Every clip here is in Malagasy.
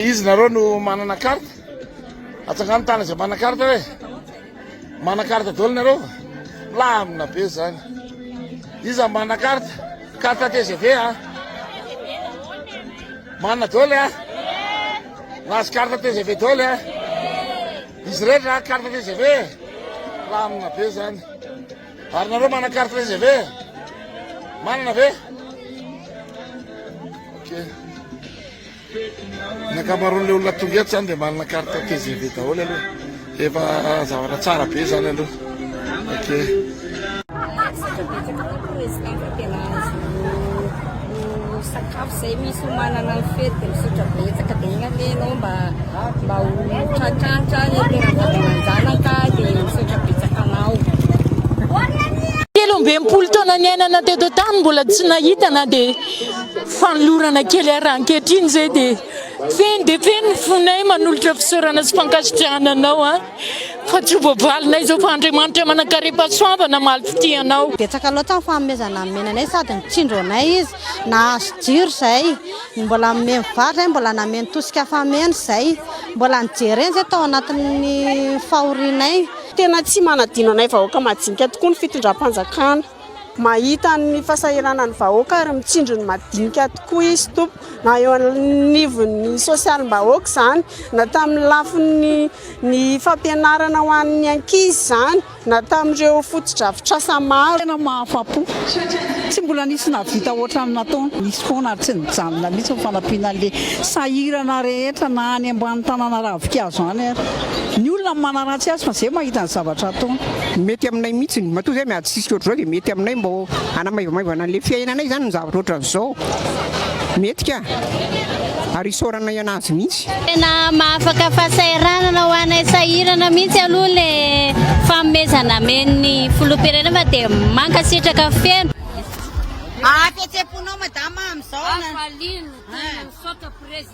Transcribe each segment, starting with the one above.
Izy nareo no manana carte? Atsangano tana izay manana carte hoe manana carte daholo nareo va? Milamina be zany. Iza manana carte? Carte TGV a? Manana daholo a? Nahazo carte TGV daholo a? Izy rehetra carte TGV? Milamina be zany. Ary nareo manana carte TGV? Manana ve? Okay. Ny ankamaroan'ilay olona tonga eto zany dia manana carte tgv daholo aloha. Efa zavatra tsara be zany aloha. sakafo zay misy manana ny fety dia misotra betsaka dia igny anie ianao mba mba ho tratratra ny tena vatananjanaka dia misotra betsaka anao telo ambin'ny folo taona niainana teto tany mbola tsy nahita na dia Fanolorana kely ahy raha ankehitriny izay dia feno dia feno ny fonay manolotra fisaorana sy fankasitrahana anao an! Fa tsy ho voavalinay izao fa Andriamanitra manan-karem-pahasoavana mamaly fitia anao. Betsaka loatra ny fanomezana nomena anay sady nitsindro anay izy nahazo jiro izay, mbola nomeny vary izay, mbola nameno tosika fameno izay, mbola nijereny izay tao anatin'ny fahorianay. Tena tsy manadino anay vahoaka majinika tokoa ny fitondram-panjakana. Mahita ny fahasahiranan'ny vahoaka ary mitsinjo ny madinika tokoa izy tompoko, na eo anivon'ny sosialim-bahoaka izany, na tamin'ny lafiny ny fampianarana ho an'ny ankizy izany, na tamin'ireo fotodrafitrasa maro. Tena mahafa-po. Tsy mbola nisy nahavita hoatran'ny nataony. Nisy foana ary tsy nijanona mihitsy ny fanampiana an'ilay sahirana rehetra na any ambany tanàna ravin-kazo any ary ny olona no manaratsy azy fa izay mahita ny zavatra ataony. mety aminay mihitsiny matoa zay miady sisika ohatr'izao dia mety aminay mba hanamaivamaivana an'ilay fiainanay zany ny zavatra ohatr'izao mety ka ary isaorana ianao azy mihitsy tena mahafaka fahasahiranana ho anay sahirana mihitsy aloha le famezana men'ny filoham-pirenena fa dia mankasitraka feno Ah, fihetseham-ponao madama amin'izao na- Hafaliany, tena misaotra président.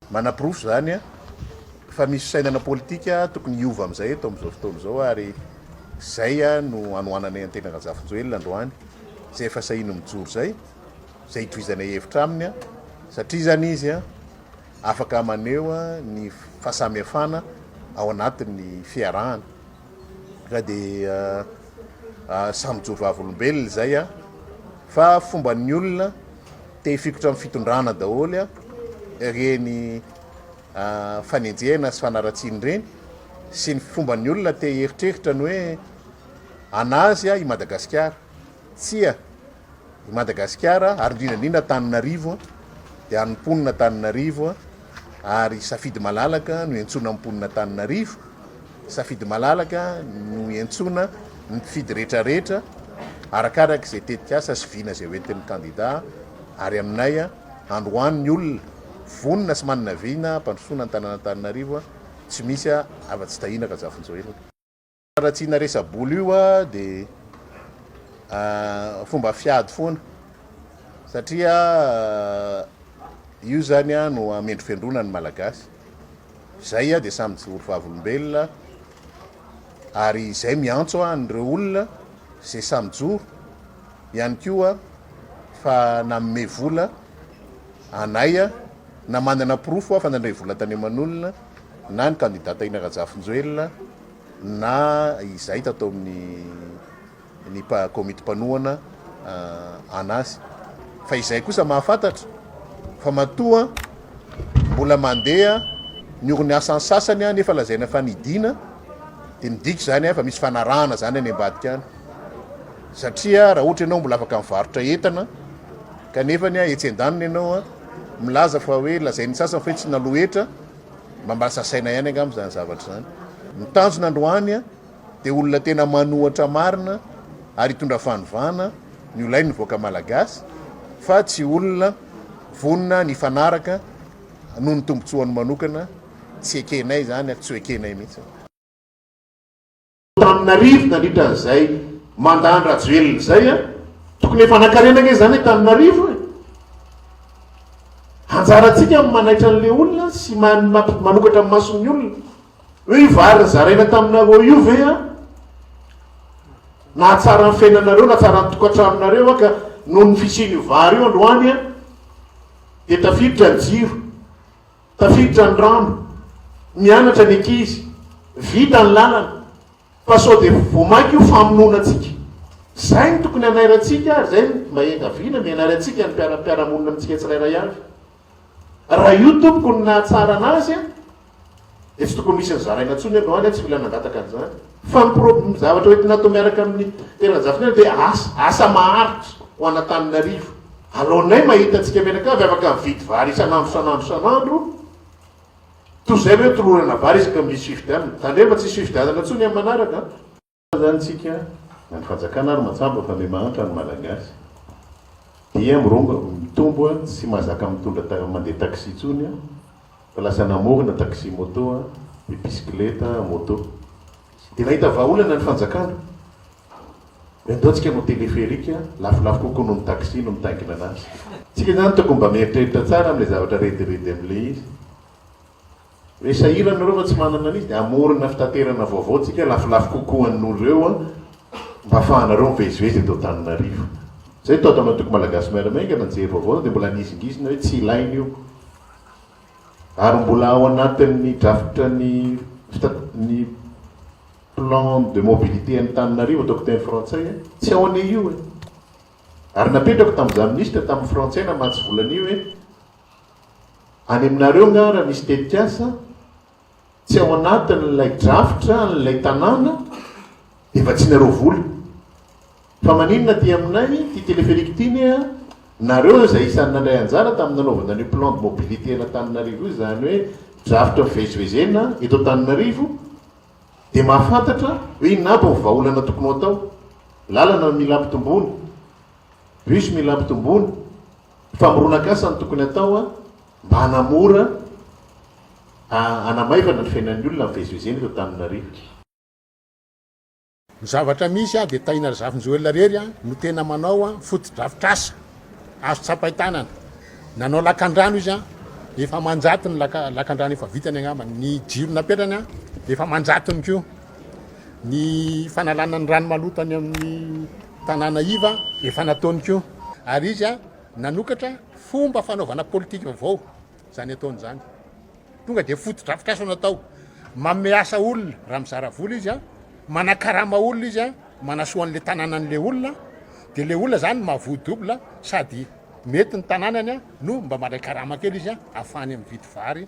Manaporofo izany fa misy fisainana politika tokony hiova amin'izay eto amin'izao fotoana izao ary izay no anohananay an'i Tena Razafinjoelina androany izay efa sahiny mijoro izay, izay itovizanay hevitra aminy satria izany izy afaka maneho ny fahasamihafana ao anatin'ny fiarahana. Zay dia samy mijoro vavolombelona izay a! Fa fomban'ny olona te hifikotra amin'ny fitondrana daholo a! Ireny fanenjehana sy fanaratsiana ireny sy ny fomban'ny olona te hieritreritra ny hoe an'azy a i Madagasikara! Tsia! I Madagasikara ary indrindra indrindra Antananarivo dia an'ny mponina Antananarivo ary safidy malalaka no iantsoana ny mponina Antananarivo, safidy malalaka no iantsoana ny mpifidy rehetra rehetra arakaraka izay tetikasa sy vina izay hoentin'ny kandida ary aminay androany ny olona vonona sy manana vina hampandrosoana ny tanàn'Antananarivo tsy misy afa-tsy Tahina Rajafinjoelina. Raha tsy na resa-bola io dia fomba fiady foana satria io izany no hamendrofendroana ny Malagasy. Izay dia samy mijoro vavolombelona ary izay miantso an'ireo olona izay samy mijoro ihany koa fa nanome vola anay na manana porofo fa nandray vola tany aman'olona na ny kandida Tahina Rajafinjoelina. na izay tato amin'ny ny komity mpanohana an'azy fa izay kosa mahafantatra fa matoa mbola mandeha ny orin'ny asan'ny sasany aho nefa lazaina fa nidina dia midika izany ahy fa misy fanarahana izany any ambadika any satria raha ohatra ianao mbola afaka mivarotra entana kanefa ny ahy etsy an-daniny ianao milaza fa hoe lazain'ny sasany fa hoe tsy nalohetra Mamasa saina ihany angamba izany zavatra izany. Ny tanjona androany dia olona tena manohatra marina ary hitondra fanovana ny ho lain'ny vahoaka malagasy fa tsy olona vonona ny hifanaraka noho ny tombontsoany manokana. Tsy ekenay izany ary tsy ho ekenay mihitsy. Antananarivo nandritra an'izay mandat an-dRajoelina izay a! Tokony efa nankarena ange izany Antananarivo e! Anjarantsika ny manaitra an'ilay olona sy manokatra ny mason'ny olona hoe io vary nizaraina taminareo io ve a! Nahatsara ny fiainanareo, nahatsara ny tokantranonareo aho ka noho ny fisian'io vary io androany a! Dia tafiditra ny jiro. Tafiditra ny rano, mianatra ny ankizy, vita ny lalana, fa sao dia vao mainka io famonoana antsika. Izay no tokony hanairantsika ary izay no mahiangaviana mianary antsika ny mpiara-mpiara-monina amintsika tsirairay avy. Raha io tompoko no nahatsara an'azy dia tsy tokony misy ny zaraina intsony androany, tsy mila nangataka an'izany. Fa ny pro, ny zavatra hoentina atao miaraka amin'ny teran-jafinaina dia asa, asa maharitra ho an'Antananarivo. Aleonay mahita antsika mianakavy afaka mividy vary isan'andro, isan'andro, isan'andro, toy izay ve tolorana vary isaka ny misy fifidianana? Tandremo fa tsisy fifidianana intsony amin'ny manaraka an! Fa izany tsika, na ny fanjakana ary matsapa fa me mahantra ny Malagasy, dia mirongo, mitombo sy mahazaka mitondra, mandeha taxi intsony an! Fa lasa namorona taxi moto a, dia bisikileta, moto. Dia nahita vahaolana ny fanjakana. Dia andao tsika hanao téléphérique, lafolafo kokoa noho ny taxi no mitaingina anazy. Tsika izany tokony mba mieritreritra tsara amin'ilay zavatra rediredy amin'ilay izy. Hoe sahirana ireo fa tsy manana an'izy dia hamorona fitaterana vaovao tsika lafolafo kokoa an'ireo mba hafahanareo mivezivezy eto Antananarivo. Izay tao tamin'ny antoko Malagasy Miara-Miaingana nijery vaovao dia mbola nihizingizina hoe tsy ilaina io. ary mbola ao anatin'ny drafitra ny ny plan de mobilité Antananarivo ataoko teny frantsay eh. tsy ao anie io eh. ary napetrako tamin'izaho minisitra tamin'ny frantsay namatsy volan'io eh. any aminareo ngara misy tetikasa Tsy ao anatin'ilay drafitra an'ilay tanàna dia vatsianareo vola. Fa maninona aty aminay ity téléphérique ity ne a? Nareo izay isan'ny nandray anjara tamin'ny nanaovana an'io plan de mobilité an'Antananarivo io, izany hoe drafitra fivezivezena eto Antananarivo, dia mahafantatra hoe inona aby ny vahaolana tokony ho atao. Lalana no mila ampitomboina, bus mila ampitomboina, famoronan-kasa no tokony atao a! Mba hanamora a hanamaivana ny fiainan'ny olona mivezivezena eto Antananarivo. Ny zavatra misy a dia tahina ry Zafinjoelina irery a no tena manao a fotodrafitrasa azo tsapain-tanana. Nanao lakandrano izy a, efa aman-jato ny laka lakandrano efa vitany angamba. Ny jiro napetrany a dia efa aman-jatony koa. Ny fanalana ny rano maloto any amin'ny tanàna iva efa nataony koa. Ary izy a. nanokatra fomba fanaovana politika vaovao izany ataony izany. Tonga dia fotodrafitrasa no atao. Manome asa olona raha mizara vola izy a, manakarama olona izy a, manasoa an'ilay tanànan'ilay olona, dia ilay olona izany mahavoa double sady mety ny tanànany a, no mba mandray karama kely izy a, ahafahany mividy vary,